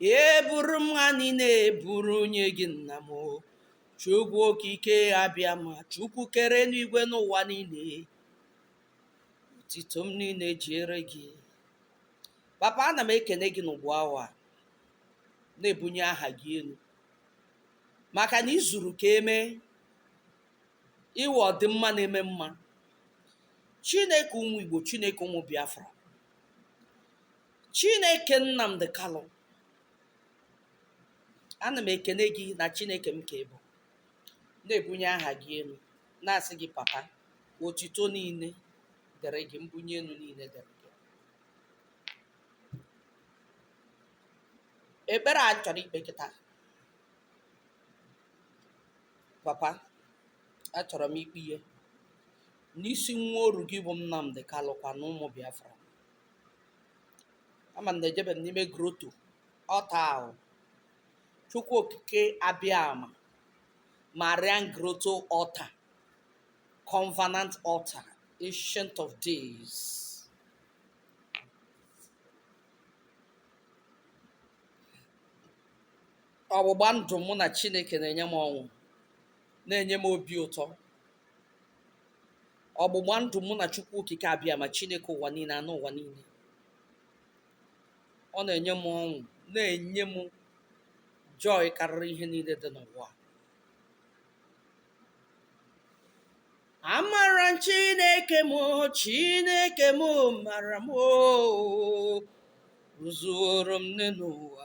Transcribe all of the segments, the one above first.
eburu m ha niile eburu nye gị nna m chukwu okike abịama chukwu kere enigwe na ụwa niile otito m niile dịrị gị papa ana m ekene gị n'ugbu awa na-ebunye aha gị elu maka na i zuru ka e mee ị wụ ọdịmma na-eme mma chineke ụmụ igbo chineke ụmụ biafra Chineke Nnamdi Kalụ, ana m ekene gị na Chineke m ka ị bụ, na-ebunye aha gị elu, na-asị gị papa, otito niile dịrị gị, mbunye elu niile dịrị gị. Ekpere a chọrọ ikpe kịta, papa, achọrọ m ikpenye n'isi nwa oru gị bụ Nnamdi Kalụ kwa na ụmụ Biafra. ama m na ejebe m n'ime grotto altar ahụ chukwu okike abịama marian grotto altar covenant altar ancient of days ọgbụgba ndụ mụ na chineke na-enye m ọṅụ na-enye m obi ụtọ ọgbụgba ndụ mụ na chukwu okike abịama chineke ụwa niile anụ ụwa niile ọ na-enye m ọṅụ na-enye m joy karịrị ihe niile dị n'ụwa amara m chineke m chineke m mara m o zuoro m n'enu ụwa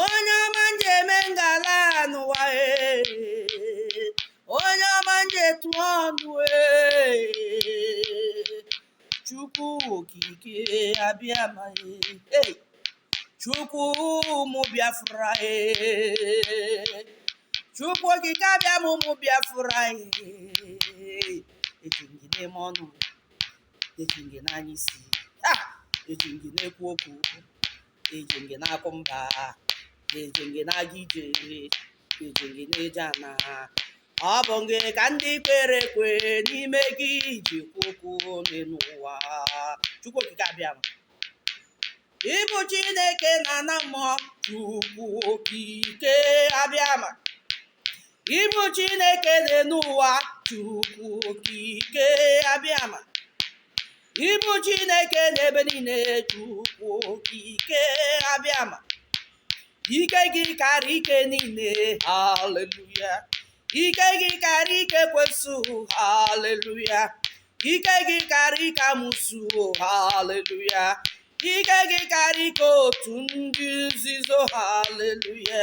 onye ọma m ji eme ngala n'ụwa ee onye ọma m ji etu ọnụ ee chukwu okike abịama ee chukwu ụmụ biafra ee chukwu okike abịama ụmụ biafra ee eji gị na-eme ọnụ eji gị na-anya isi eji gị na-ekwu okwu eji gị na-akụ mba eji gị na-aga ije eji gị na-eje ana ọ bụ gị ka ndị kwere ekwe n'ime gị ji ekwu okwu n'elu ụwa chukwu okike abịama ị bụ chineke n'ana mmụọ chukwu okike abịama ị bụ chineke dị n'ụwa chukwu okike abịama ị bụ chineke n'ebe niile chukwu okike abịama ike gị karịa ike niile haleluya ike gị karịa ike ekwensu haleluya ike gị karịa ike amụsụ haleluya ike gị karịa ike otu ndị nzuzo haleluya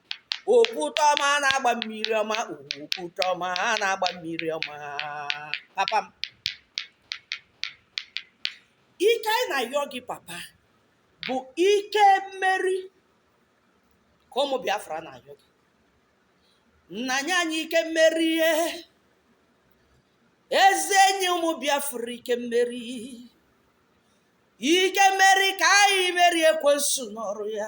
okwute ọma na-agba mmiri ọma okwute ọma na-agba mmiri ọma papa m ike anyị na-ayọ gị papa bụ ike mmeri ka ụmụ biafra na-ayọ gị nna nye anyị ike mmeri e eze nye ụmụ biafra ike mmeri ike mmeri ka anyị merie ekwensu n'ọrụ ya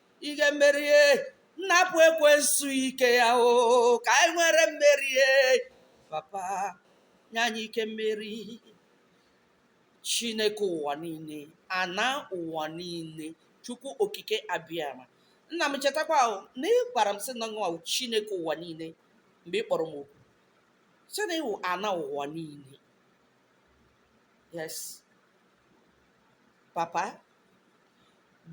ike mmeri e napụ ekwensu ike ya o ka anyị nwere mmeri e papa nye anyị ike mmeri chineke ụwa niile ana ụwa niile chukwu okike abịama nna m chetakwa na ị gwara m sị na ọ wụ chineke ụwa niile mgbe ị kpọrọ m oku sị na ị wụ ana ụwa niile yes papa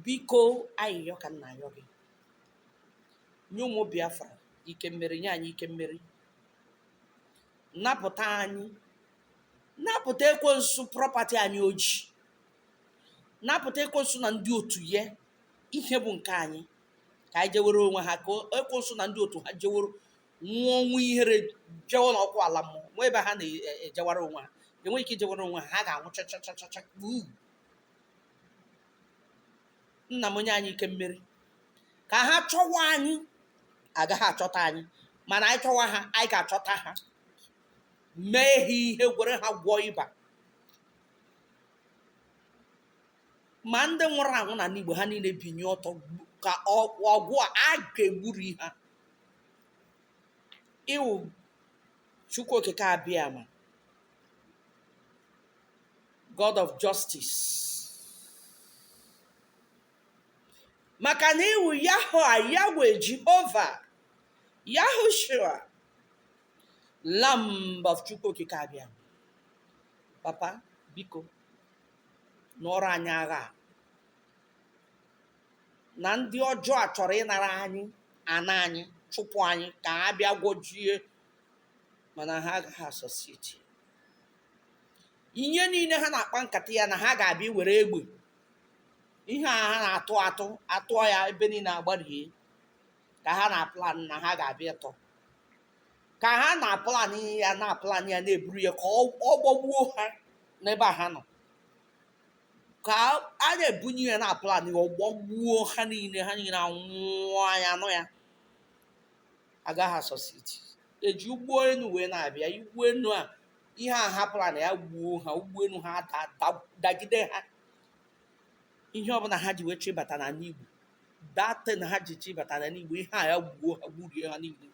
biko ayịyọ ka m na-ayọ gị nye ụmụ Biafra ike mmeri nye anyị ike mmeri napụta anyị napụta ekwensu prọpati anyị o ji napụta ekwensu na ndị otu ya ihe bụ nke anyị ka anyị jewere onwe ha ka ekwensu na ndị otu ha jeworo nwụọ ọnwụ ihere jewo n'ọkụ ala mmụọ nwee ebe ha na-ejewara onwe ha enweghị ike ijewara onwe ha ha ga-anwụ chachachachacha nna m o nye anyị ike mmeri ka ha chọwa anyị agaghị achọta anyị mana anyị chọwa ha anyị ga-achọta ha mee ha ihe were ha gwọọ ịba ma ndị nwụrụ anwụ n'ana igbo ha niile binie ọtọ gbu- ka ọ- ọgụ a a ga-egburi ha ị wụ chukwu okike abịama God of justice. Maka na ị wụ Yahowa Yahwe Jehova Yahushua Lamb of Chukwu Okike Abịama. Papa biko nụọrọ anyị agha a. na ndị ọjọọ a chọrọ ịnara anyị ana anyị chụpụ anyị ka ha bịa gwojie mana ha agaghị a-succeed ihe niile ha na-akpa nkata ya na ha ga-abịa were egbe ihe a ha na-atụ atụ atụọ ya ebe niile agbarie ka ha na-aplan na ha ga-abịa tọ ka ha na-aplan ya na-aplan ya na-eburu ya ka ọ ọ gbagbuo ha n'ebe a ha nọ ka a na-ebunye ya na-aplan ya ọ gbagbuo ha niile ha niile anwụọ anya nọ ya agaghị asọsiti eji ụgbọ elu wee na-abịa ụgbọ elu a ihe a ha plan ya gbuo ha ụgbọelu ha da- da- dagide ha ihe ọbụla ha ji wee chịbata n'ala igbo that thing ha ji chịbata n'ala igbo ihe a ya gbuo ha gburie ha niile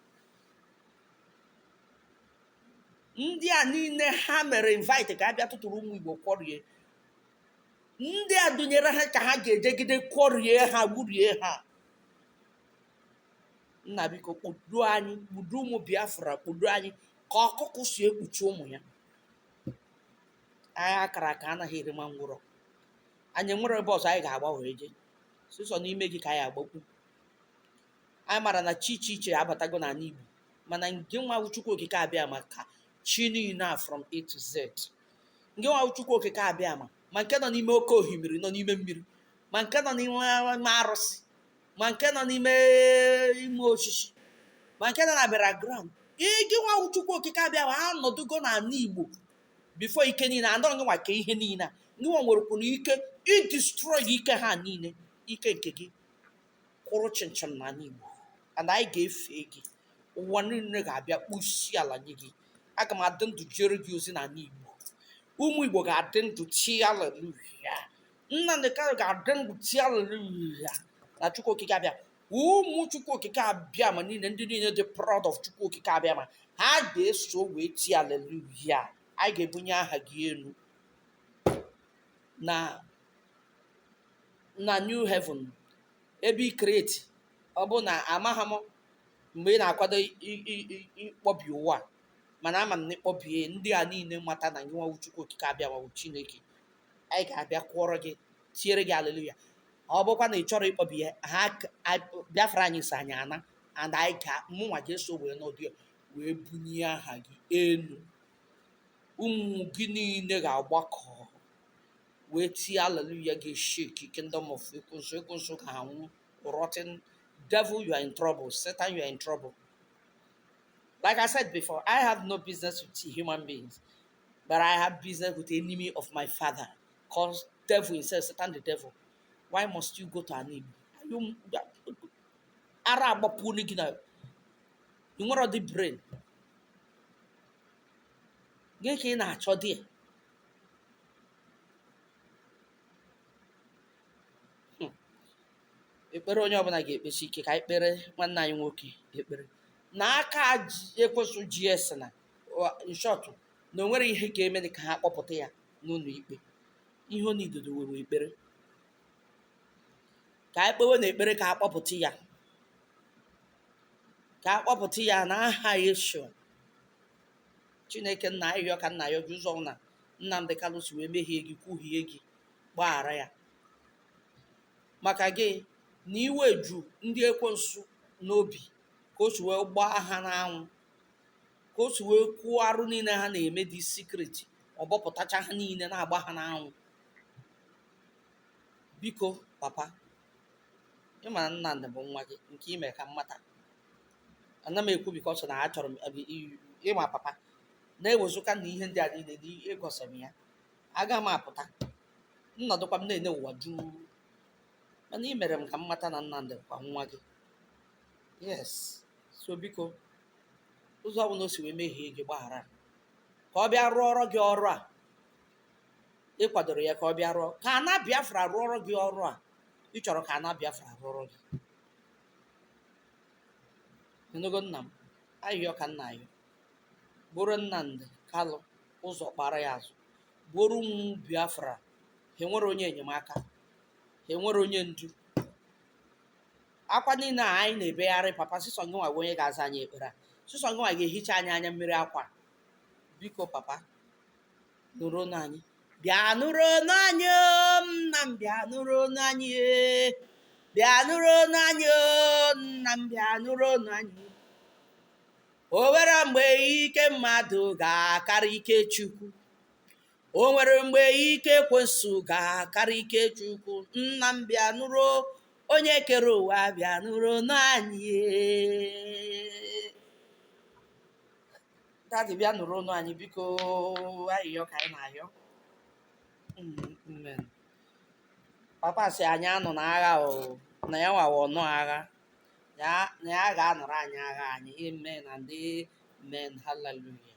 ndị a niile ha mere invite ka a bịa tụtụrụ ụmụ igbo kwọrie ndị a dunyere ha ka ha ga-ejegide kwọrie ha gburie ha nna biko kpudo anyị kpudo ụmụ biafra kpudo anyị ka ọkụkụ si ekpuchi ụmụ ya agha a kara aka anaghị eri nwa ngwụrọ anyị enwerọ ebe ọzọ anyị ga-agba wee jee sọsọ n'ime gị ka anyị agbakwu anyị mara na chi iche iche abatago n'ala igbo mana ngị nwa wụ chukwu okike abịama ka chi niile a from a to z ngị nwa wụ chukwu okike abịama ma nke nọ n'ime oke ohimiri nọ n'ime mmiri ma nke nọ n'ime arụsị ma nke nọ n'ime ime osisi ma nke nọ na burial ground gị nwa wụ chukwu okike abịama anọdụgo n'ala igbo before ike niile and ọ gị nwa ka ihe niile a gị nwa nwerekwuru ike idestroy ike ha niile ike nke gị kwụrụ chịm chịm n'ala igbo and anyị ga-efe gị ụwa niile ga-abịa kpọọ isi ala nye gị aga m adị ndụ jere gị ozi n'ala igbo ụmụ igbo ga-adị ndụ tie aleluya Nnamdi Kanu ga-adị ndụ tie aleluya na Chukwu Okike abịa ụmụ Chukwu Okike Abịama niile ndị niile dị proud of Chukwu Okike Abịama ha ga-eso wee tie aleluya anyị ga-ebunye aha gị elu na na new heaven ebe i create ọ bụ na amaghị m mgbe ị na-akwado i- i- i- ịkpọbi ụwa a, mana ama m na ịkpọbie ndị a niile mata na gị nwa wụ Chukwu Okike Abịama bụ Chineke anyị ga-abịa kụọrọ gị tiere gị aleluya ọ bụkwa na ị chọrọ ịkpọbi ya ha k- a- biafra anyị so anyị ana and anyị ga mụnwa ga-eso wee nọdụ wee bunye aha gị elu ụmụ gị niile ga-agbakọ wee tie aleluya ga-eshake kingdom of ekwensu ekwensu ga-anwụ rotten devil you are in trouble satan you are in trouble like i said before i have no business with human beings But I have business with the enemy of my father, called devil himself, Satan the devil. Why must you go to an Igbo? Ara agbapụ gị na ị nwere ọdị brain. Gị ka ị na-achọ di ya. Hmm. ekpere onye ọbụla ga-ekpesi ike ka anyị kpere nwanne anyị nwoke ekpere na aka ekwensu ji esi na in short na o nwere ihe ga-eme dị ka ha kpọpụta ya n'ụlọ ikpe ihe ọ nidodo were ekpere ka anyị kpewe na ekpere ka a kpọpụta ya ka a kpọpụta ya na aha Yeshua Chineke nna ayịyọ ka m na-ayọ gị ụzọ ọbụla Nnamdị Kanụ si wee mehie gị kwuhie gị gbaghara ya maka gị na iwe ju ndị ekwensu n'obi ka o si wee gbaa ha n'anwụ ka o si wee kwuo arụ niile ha na-eme dị secret ọ bọpụtacha ha niile na-agba ha n'anwụ biko papa ị ma na nnamdị bụ nwa gị nke i mere ka m mata ana m ekwu because na achọrọ m abi- i- ịma papa na ewezụka na ihe ndị a niile na i gosi m ya aga m apụta nnọdụkwa m na-ene ụwa juu mana i mere m ka m mata na nnamdị kwa nwa gị yes so biko ụzọ ọ bụla o si wee mehie gị gbaghara ya. ka ọ bịa rụọrọ gị ọrụ a ị kwadoro ya ka ọ bịa rụọ ka ana biafra rụọrọ gị ọrụ a ị chọrọ ka ana biafra rụọrọ gị ị nụgo nna m ayịyọ ka m na-ayọ buru nnamdị kalụ ụzọ kpara ya azụ buru ụmụ biafra ha enwere onye enyemaka ha enwere onye ndu akwa niile a anyị na-ebegharị papa sisọ gị nwa bụ onye ga-aza anyị ekpere a sisọ gị nwa ga-ehicha anyị anya mmiri akwa biko papa nụrụ ọnụ anyị bịa nụrụ ọnụ anyị o, nna m bịa nụrụ ọnụ anyị e. bịa nụrụ ọnụ anyị o, nna m bịa nụrụ ọnụ anyị o nwere mgbe ike mmadụ ga-akarị ike chukwu o nwere mgbe ike ekwensu ga-akarị ike chukwu nna m bịa nụrụ onye kere ụwa bịa nụrụ ọnụ anyị daddy bịa nụrụ ọnụ anyị biko ayịyọ ka anyị na-ayọ Mm, amen. papa sị anyị anụna agha o na ya nwa wụ ọnụ agha na ya ga-anụrụ anyị agha anyị amen and amen hallelujah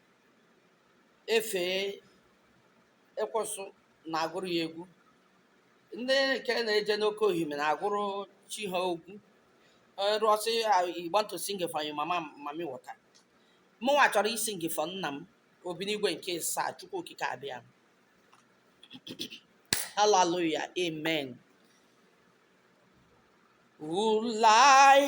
efee ekwensu na-agụrụ ya egwu ndị nke na-eje n'oke ohime na-agụrụ chi ha egwu rụọsị you want to sing for your mama mami wọta mụnwa chọrọ ịsing for nna m obi n'igwe nke saa chukwu okike abịama haleluya amen ulai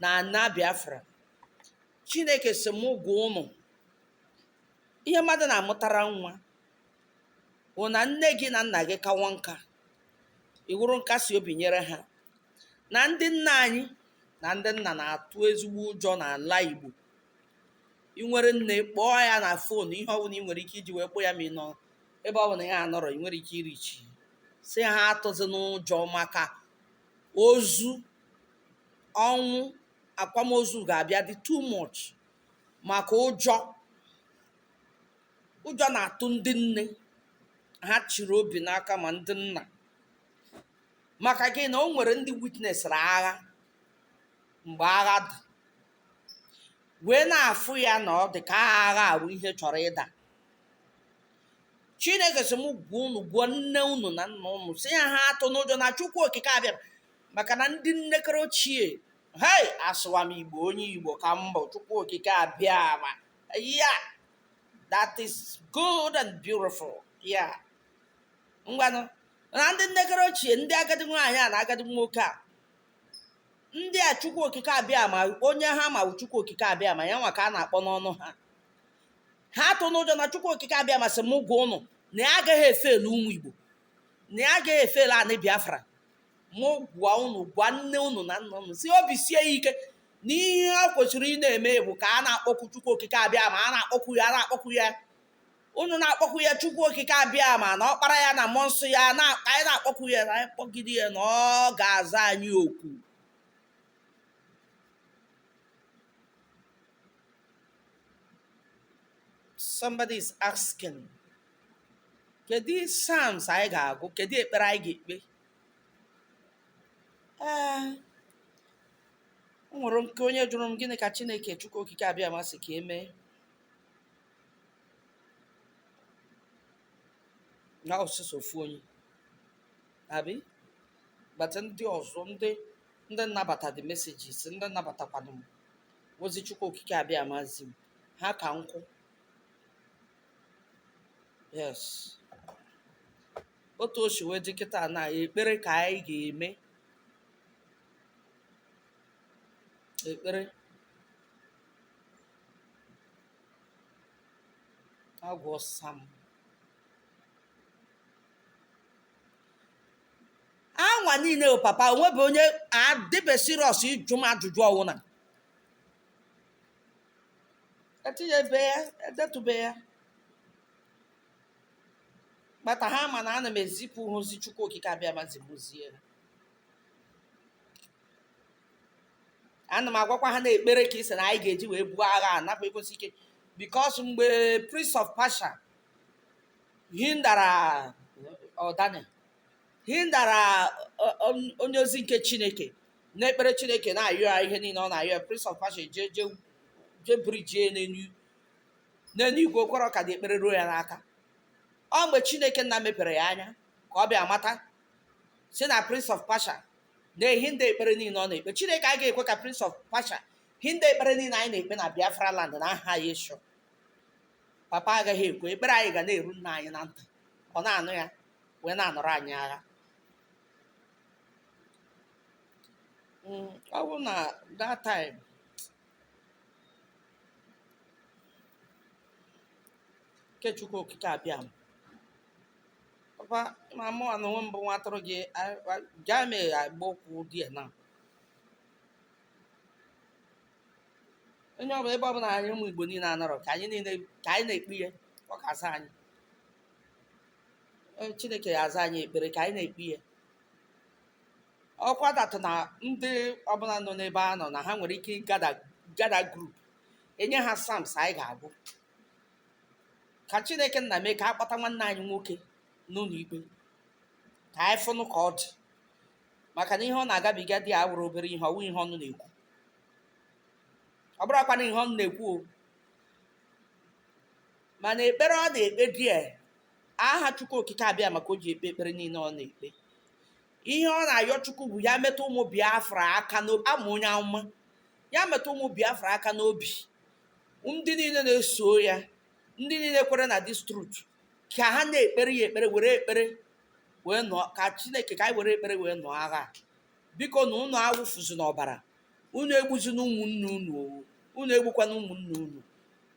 na ana biafra chineke sị mụ gwa ụnụ ihe mmadụ na-amụtara nwa bụ na nne gị na nna gị kawa nka ị wụrụ nkasi obi nyere ha na ndị nna anyị na ndị nna na-atụ ezigbo ụjọ n'ala igbo ị nwere nne kpọọ ya na fon ihe ọbụla ị nwere ike iji wee kpọọ ya ma ị nọ ebe ọbụla ya anọrọ ị nwere ike ịreach sị ha atụzina ụjọ maka ozu ọnwụ akwamozu ga-abịa dị too much maka ụjọ ụjọ na-atụ ndị nne ha chịrị obi n'aka ma ndị nna maka gịnị na o nwere ndị witnesịrị agha mgbe agha dị wee na-afụ ya na ọ dị ka agha ahụ ihe chọrọ ịda chineke sị m gwa unu gwa nne unu na nna unu sị ya ha atụna ụjọ na chukwu okike abịama maka na ndị nnekere ochie hei asụwa m igbo onye igbo ka m bụ chukwu okike abịama yeah that is good and beautiful yeah ngwanụ na ndị nnekere ochie ndị agadi nwaanyị a na agadi nwoke a ndị a chukwu okike abịama onye ha ma bụ chukwu okike abịama ya nwa ka a na-akpọ n'ọnụ ha ha atụna ụjọ na chukwu okike abịama sị m gwa ụnụ na ya agaghị efelu ụmụ igbo na ya agaghị efelu anị biafra mụ gwa unu gwa nne unu na nna unu sị obi sie ya ike na ihe o kwesịrị ị na-eme bụ ka a na-akpọku chukwu okike abịama a na-akpọku ya a na-akpọku ya unu na-akpọku ya chukwu okike abịama na ọkpara ya na mmụọ nsọ ya na ka anyị na-akpọku ya na anyị kpọgide ya na ọ ga-aza anyị oku somebody is asking Kedu psalms anyị ga-agụ? Kedu ekpere anyị ga-ekpe? Ee, o nwere nke onye jụrụ m gịnị ka Chineke Chukwu Okike Abịama sị ka e mee? Na ọ sọsọ ofu onye. Abi? But ndị ọzọ ndị ndị nabata the messages, ndị nabatakwanụ m ozi Chukwu Okike Abịama zi m, ha ka nnukwu. yes otu o si wee dị kịta na ekpere ka anyị ga-eme ekpere agụọ psalm anwa niile o papa o nwebe onye adịbe serious ịjụ m ajụjụ ọ wụ na etinyebe ya edetụbe ya kpata ha ma na ana m ezipụ ha ozi chukwu okike abịama zi m zie ha ana m agwakwa ha na ekpere ka ị sị na anyị ga-eji wee buo agha a napụ ekwesị ike because mgbe prince of persia hindara daniel hindara onye ozi nke chineke n'ekpere chineke na-ayọ ya ihe niile ọ na-ayọ ya prince of persia jee jee jee brijie ya n'elu n'elu igwe o kwero ka the ekpere ruo ya n'aka ọ mgbe chineke nna mepere ya anya ka ọ bịa mata sị na prince of persia na-ehinda ekpere niile ọ na-ekpe chineke a ga-ekwe ka prince of persia hinda ekpere niile anyị na-ekpe na biafra land na aha yeshua papa agaghị ekwe ekpere anyị ga na-eru nna anyị na ntị ọ na-anụ ya wee na-anụrụ anyị agha Mm, ọ bụ na that time nke Chukwu Okike Abịama papa ma mụ na onwe m bụ nwa atụrụ gị a- a- gaa mee agba okwu there na onye ọbụla ebe ọbụla anyị ụmụ Igbo niile anọrọ ka anyị niile ka anyị na-ekpe ihe ọ ga-asa anyị Ee, Chineke ya-aza anyị ekpere ka anyị na-ekpe ya ọkwa datụ na ndị ọbụla nọ n'ebe a nọ na ha nwere ike gather gather group enye ha psalms anyị ga-agụ ka Chineke nna mee ka a kpọta nwanne anyị nwoke n'ụlọ ikpe ka anyị fụnụ ka ọ dị maka na ihe ọ na-agabiga there awụrọ obere ihe ọ wụ ihe ọnụ na-ekwu ọ bụrọkwa na ihe ọnụ na-ekwu o mana ekpere ọ na-ekpe there aha chukwu okike abịama ka o ji ekpe ekpere niile ọ na-ekpe ihe ọ na-ayọ chukwu bụ ya metụ ụmụ biafra aka n'obi ama onye amụma ya metụ ụmụ biafra aka n'obi ndị niile na-eso ya ndị niile kwere na this truth ka ha na-ekpere ya ekpere were ekpere wee nụọ ka chineke ka anyị were ekpere wee nụọ agha a. bikonụ ụnụ awụfuzina ọbara unu egbuzina ụmụnne unu o unu egbukwana ụmụnne unu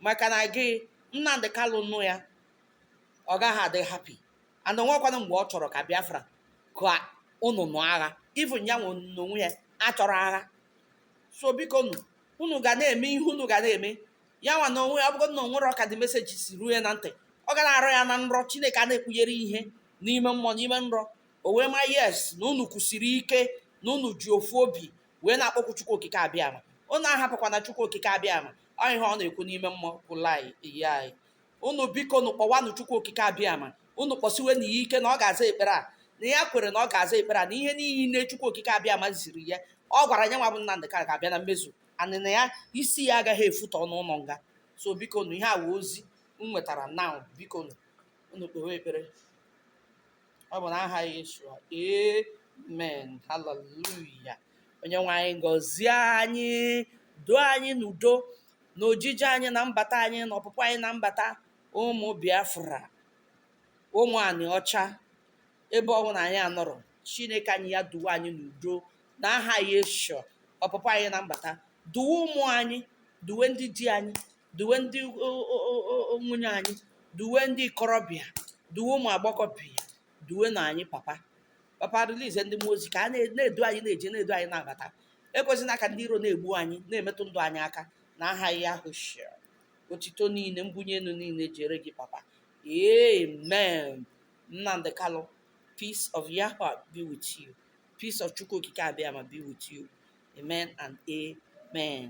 maka na gị nnamdị kalụ nụ ya ọ gaghị adị happy and o nwekwanụ mgbe ọ chọrọ ka biafra ka unu nụọ agha even ya nwa n'onwe ya achọrọ agha so biko nụ unu ga na-eme ihe unu ga na-eme ya nwa na onwe ya ọ bụgo na o nwerọ ka the message si ruo ya na ntị ọ ga na-arọ ya na nrọ chineke a na-ekpughere ihe n'ime mmụọ n'ime nrọ O wee ma yes na unu kwụsiri ike na unu ji ofu obi wee na-akpọku Chukwu Okike Abịama unu ahapụkwana Chukwu Okike Abịama ọ ihe ọ na-ekwu n'ime mmụọ kwụla iyi anyị unu biko nụ kpọwanụ Chukwu Okike Abịama unu kpọsiwenụ ya ike na ọ ga-aza ekpere a na ya kwere na ọ ga-aza ekpere a na ihe niile Chukwu Okike Abịama ziri ya ọ gwara ya nwa bụ Nnamdị Kalụ ga-abịa na mmezu and na ya isi ya agaghị efutọ n'ụlọ nga so biko nụ ihe a wụ ozi m nwetara na biko nụ unu kpewe ekpere ọ bụ n'aha Yeshua amen haleluya onye nwe anyị gọzie anyị duo anyị n'udo na ojije anyị na mbata anyị na ọpụpụ anyị na mbata ụmụ biafra ụmụ anị ọcha ebe ọbụla anyị anọrọ chineke anyị ya duwe anyị n'udo na aha Yeshua ọpụpụ anyị na mbata duwe ụmụ anyị duwe ndị di anyị duwe ndị o- o- o- o- o- nwunye anyị duwe ndị ikorobịa duwe ụmụ agbọghọbịa duwe na anyị papa papa release ndị mmụọ ozi ka ha na- na-edu anyị na-eje na-edu anyị na-abata ekwezina ka ndị iro na-egbu anyị na-emetụ ndụ anyị aka na aha Yeshua otito niile mbunye elu niile jere gị papa amen nnamdị kalụ peace of yahweh be with you peace of chukwu okike abịama be with you amen and amen